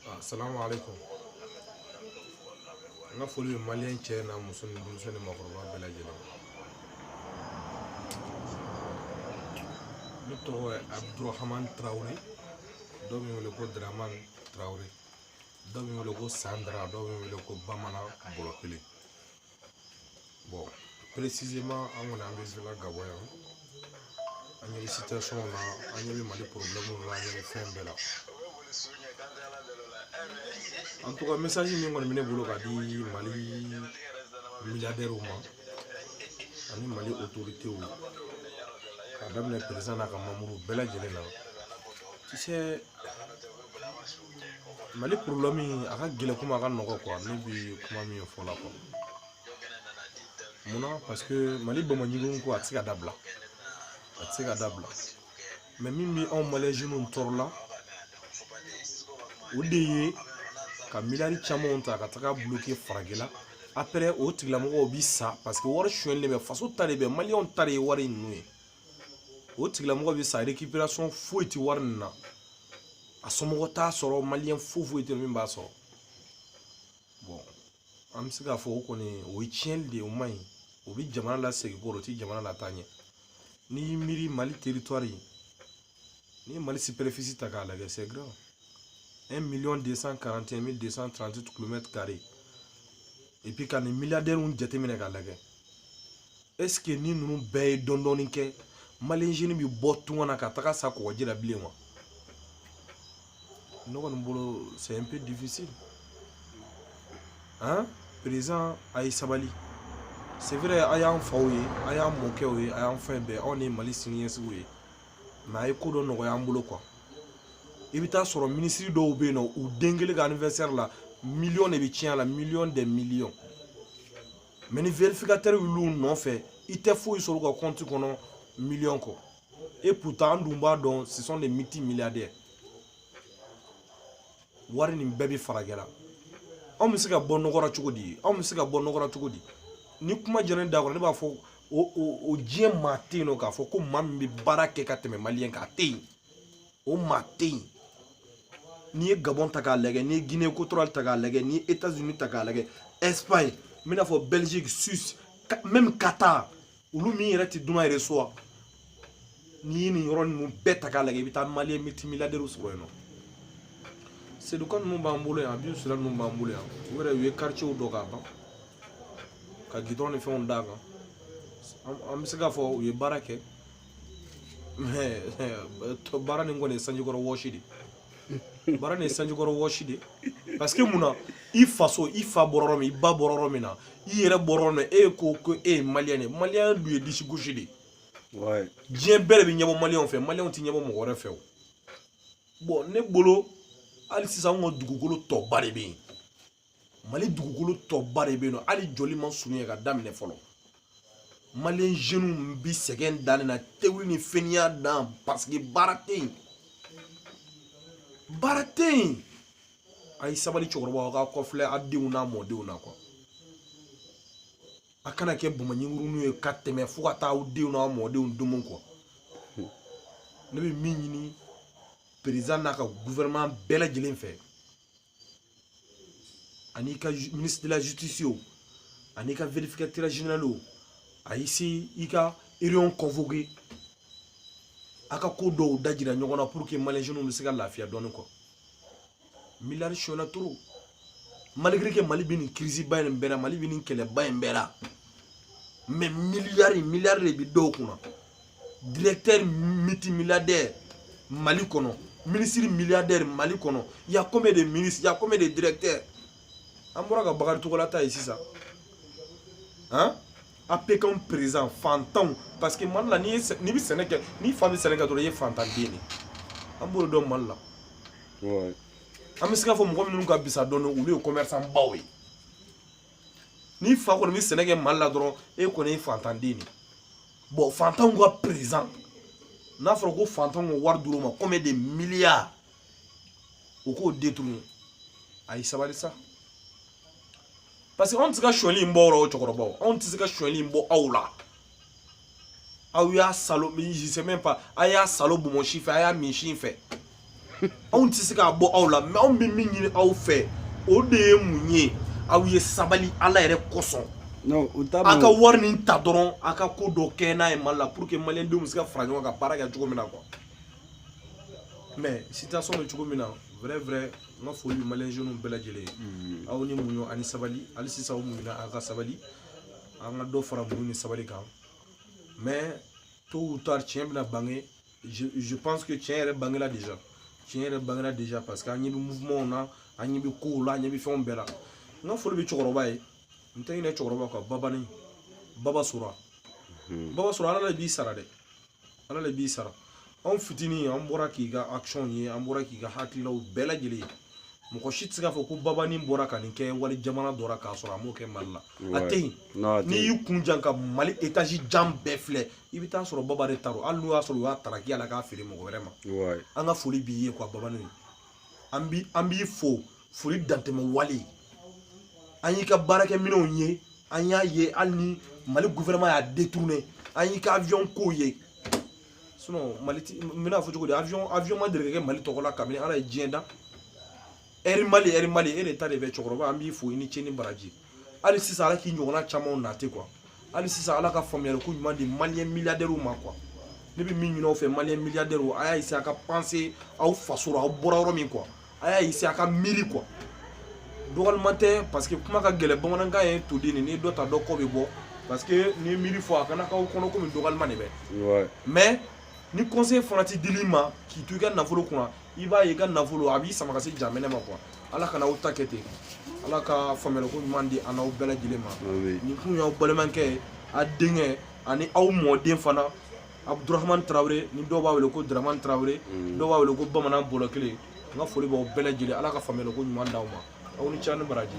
Ah, assalamu alaikum n ka foli bɛ maliyɛn cɛ n'a muso ni denmisɛn ni maakɔrɔba bɛɛ lajɛlen ne tɔgɔ ye abdurahamani tarawele dɔw bɛ n wele ko daramani tarawele dɔw bɛ n wele ko sandara dɔw bɛ n wele ko bamanan bɔlɔ kelen bon précisément an kɔni an bɛ zela gabon yan an ɲɛ bɛ situation na an ɲɛ bɛ mali problème na an ɲɛ bɛ fɛn bɛɛ la en tout cas message min kɔni bɛ ne bolo ka di mali milliardaires ma ani mali autorités k'a daminɛ président n'a ka membres bɛɛ lajɛlen na tu sais mali problème a ka gɛlɛn komi a ka nɔgɔ quoi ne bi kuma min fɔ la quoi munna parce que mali bamaɲiginw ko a tɛ se ka dabila a tɛ se ka dabila mais min bɛ anw maliyɛn jeunes tɔɔrɔ la o de ye ka miliyari camanw ta ka taga bloquer faragɛla après o tigilamɔgɔw bi sa parce que wari suɲɛlen de bɛ faso ta de bɛ maliyɛnw ta de ye wari ninnu ye o tigilamɔgɔ bɛ sa récupération foyi tɛ wari nin na a somɔgɔ t'a sɔrɔ maliyɛn foyi foyi tɛ min b'a sɔrɔ bon an bɛ se k'a fɔ o kɔni o ye tiɲɛni de ye o man ɲi o bɛ jamana lasegin kɔ rɔ o tɛ jamana lataa ɲɛ n'i y'i miiri mali territoire ye n'i ye mali superficie ta k'a lajɛ c'est grand un million deux cent quarante et un mille deux cent trente huit kilomètres carrés et puis ka nin milliardaires jateminɛ k'a lajɛ est-ce que ni ninnu bɛɛ ye dɔɔnin dɔɔnin kɛ maliyɛn jeunes bɛ bɔ tunga na ka taga sa kɔgɔji la bilen wa ne kɔni bolo c'est un peu difficile hein président a ye sabali c'est vrai a y'an faw ye a y'an mɔkɛw ye a y'an fɛn bɛɛ anw de ye mali siniɲɛsigiw ye mais a ye ko dɔ nɔgɔya an bolo quoi i bɛ taa sɔrɔ minisiri dɔw bɛ yen nɔ u den kelen ka anniversaire la miliyɔn de bɛ tiɲɛ a la miliyɔn des miliyɔn mais ni vérificateur y'olu nɔfɛ i tɛ foyi sɔrɔ u ka kɔnti kɔnɔ miliyɔn kɔ et pourtant an dun b'a dɔn ce sont des multimilliardaires wari nin bɛɛ bɛ faragɛla anw bɛ se ka bɔ nɔgɔ ra cogo di anw bɛ se ka bɔ nɔgɔ ra cogo di ni kuma jɛra ne da kɔrɔ ne b'a fɔ o o o diɲɛ maa tɛ yen nɔ k'a fɔ ko maa min bɛ baara kɛ ka tɛmɛ maliyɛn kan a tɛ yen o maa tɛ yen n'i ye gabon ta k'a lajɛ n'i ye guinee equatoriale ta k'a lajɛ n'i ye états unis ta k'a lajɛ espagne n bɛna fɔ belgique suisse même qatar olu min yɛrɛ tɛ dunan yɛrɛ so wa n'i ye nin yɔrɔ ninnu bɛɛ ta k'a lajɛ i bɛ taa maliyɛn multimilliardaires sɔrɔ yen nɔ seydou kane ninnu b'an bolo yan habib sylla ninnu b'an bolo yan u yɛrɛ u ye quartierw dɔ k'a ban ka gidɔrɔn ni fɛnw d'a kan an bɛ se k'a fɔ u ye baara kɛ baara nin kɔni ye sanjikɔrɔ wɔsi de baara nin ye sanjikɔrɔ wɔsi de parce que mun na i faso i fa bɔra yɔrɔ min i ba bɔra yɔrɔ min na i yɛrɛ bɔra yɔrɔ min na e ko ko e ye maliyɛn de ye maliyɛn dun ye disi gosi de ye diɲɛ bɛɛ de bɛ ɲɛbɔ maliyɛnw fɛ maliyɛnw tɛ ɲɛbɔ mɔgɔ wɛrɛ fɛ o bɔn ne bolo hali sisan anw ka dugukolo tɔba de bɛ yen mali dugukolo tɔba de bɛ yen nɔ hali jɔli ma surunya ka daminɛ fɔlɔ maliyɛn jeunes bi sɛgɛn danni na tewuli ni fɛniya dan parce que baara tɛ yen baara tɛ yen a ye sabali cɛkɔrɔba aw ka kɔfilɛ a denw n'a mɔdenw na quoi a kana kɛ bamaɲinkuruninw ye ka tɛmɛ fo ka taa aw denw n'a mɔdenw domo quoi ne bɛ min ɲini président n'a ka gouvernement bɛɛ lajɛlen fɛ ani ka ministre de la justice o ani ka vérificateur général o a essayer ka réunion convoquer a ka ko dɔw da jira ɲɔgɔn na pour que malien jeunes bɛ se ka lafiya dɔɔni quoi miliyari sonyana trop malgré que mali bɛ nin crise ba in bɛɛ la mali bɛ nin kɛlɛba in bɛɛ la mais miliyari miliyari de bɛ dɔw kunna directeur multimilliardaire mali kɔnɔ ministre milliardaire mali kɔnɔ y a combien de ministre y a combien de directeur an bɔra ka bakari togola ta ye sisan han apcam présent fantanw parce que mali la n'i bɛ sɛnɛ kɛ n'i fa bɛ sɛnɛ kɛ dɔrɔn i ye fantan den de an b'o dɔn mali la an bɛ se k'a fɔ mɔgɔ minnu ka fisa dɔɔni olu ye commerçant baw ye n'i fa kɔni bɛ sɛnɛ kɛ mali la dɔrɔn e kɔni ye fantanden de ye bɔn fantanw ka président n'a fɔra ko fantanw ka wari dir'o ma combien de miliyari o k'o détourner a ye sabali sa parce que anw tɛ se ka sonyali in bɔ aw la o cɛkɔrɔbaw anw tɛ se ka sonyali in bɔ aw la aw y'a saalo je sais même pas a y'a saalo bonbonsi fɛ a y'a min sin fɛ anw tɛ se k'a bɔ aw la mais anw bɛ min ɲini aw fɛ o de ye mun ye aw ye sabali ala yɛrɛ kosɔn a ka wari nin ta dɔrɔn a ka ko dɔ kɛ n'a ye mali la pour que maliyɛndenw bɛ se ka fara ɲɔgɔn kan baara kɛ cogo min na quoi mais situation bɛ cogo min na vrai vrai n ka foli bɛ maliyɛn jeunes bɛɛ lajɛlen ye aw ni muɲu ani sabali hali sisan aw muɲuna aw ka sabali an ka dɔ fara muɲu ni sabali kan mais tôt ou tard tiɲɛ bɛna bange je, je pense que tiɲɛ yɛrɛ bangela déjà tiɲɛ yɛrɛ bangela déjà parce que an ɲɛ bɛ mouvement na an ɲɛ bɛ kow la an ɲɛ bɛ fɛnw bɛɛ la n ka foli bɛ cɛkɔrɔba ye n tɛ ɲinɛ cɛkɔrɔba kɔ babani baba sora baba sora ala de b'i sara dɛ ala le b'i sara anw fitinin an bɔra k'i ka action ye an bɔra k'i ka hakililaw bɛɛ lajɛlen ye mɔgɔ si tɛ se k'a fɔ ko babani bɔra ka nin kɛ wali jamana dɔ ra k'a sɔrɔ a m'o kɛ mali la a tɛ yen n'i y'i kun jan ka mali étage jan bɛɛ filɛ i bɛ t'a sɔrɔ baba de ta don hali n'o y'a sɔrɔ u y'a taraki a la k'a feere mɔgɔ wɛrɛ ma an ka foli b'i ye quoi babani an b'i fo foli dantɛmɛ wale an y'i ka baarakɛminɛnw ye an y'a ye hali ni mali gouvernement y'a détourné an y'i ka avion ko ye sinon mali ti n bɛn'a fɔ cogo di avion ma deli ka kɛ mali tɔgɔ la kabini ala ye diɲɛ da air mali air mali e de ta de bɛ cɛkɔrɔba an b'i fo i ni ce ni baraji hali sisan ala k'i ɲɔgɔnna camanw nati quoi hali sisan ala ka faamuyali ko ɲuman di maliyɛn miliyadɛriw ma quoi ne bɛ min ɲini aw fɛ maliyɛn miliyadɛriw a y'a essayer a ka penser aw faso la aw bɔra yɔrɔ min quoi a y'a essayer a ka miiri quoi dɔgɔliman tɛ parce que kuma ka gɛlɛn bamanankan ye toden ni dɔ ta dɔ kɔ bɛ bɔ parce que ni miiri fɔ a kana k'aw kɔnɔ komi dɔgɔliman de bɛ mais ni conseil fana ti dil'i ma k'i to i ka nafolo kunna i b'a ye i ka nafolo a b'i sama ka se jahanama quoi ala kana aw ta kɛ ten ala ka faamuyaliko ɲuman di an n'aw bɛɛ lajɛlen ma nin kun y'aw balimakɛ ye a denkɛ ani aw mɔden fana abudurahamani tarawele ni dɔw b'a wele ko daramani tarawele mm. dɔw b'a wele ko bamanan bɔlɔ kelen n ka foli b'aw bɛɛ lajɛlen ala ka faamuyaliko ɲuman d'aw ma aw ni ce ni baraji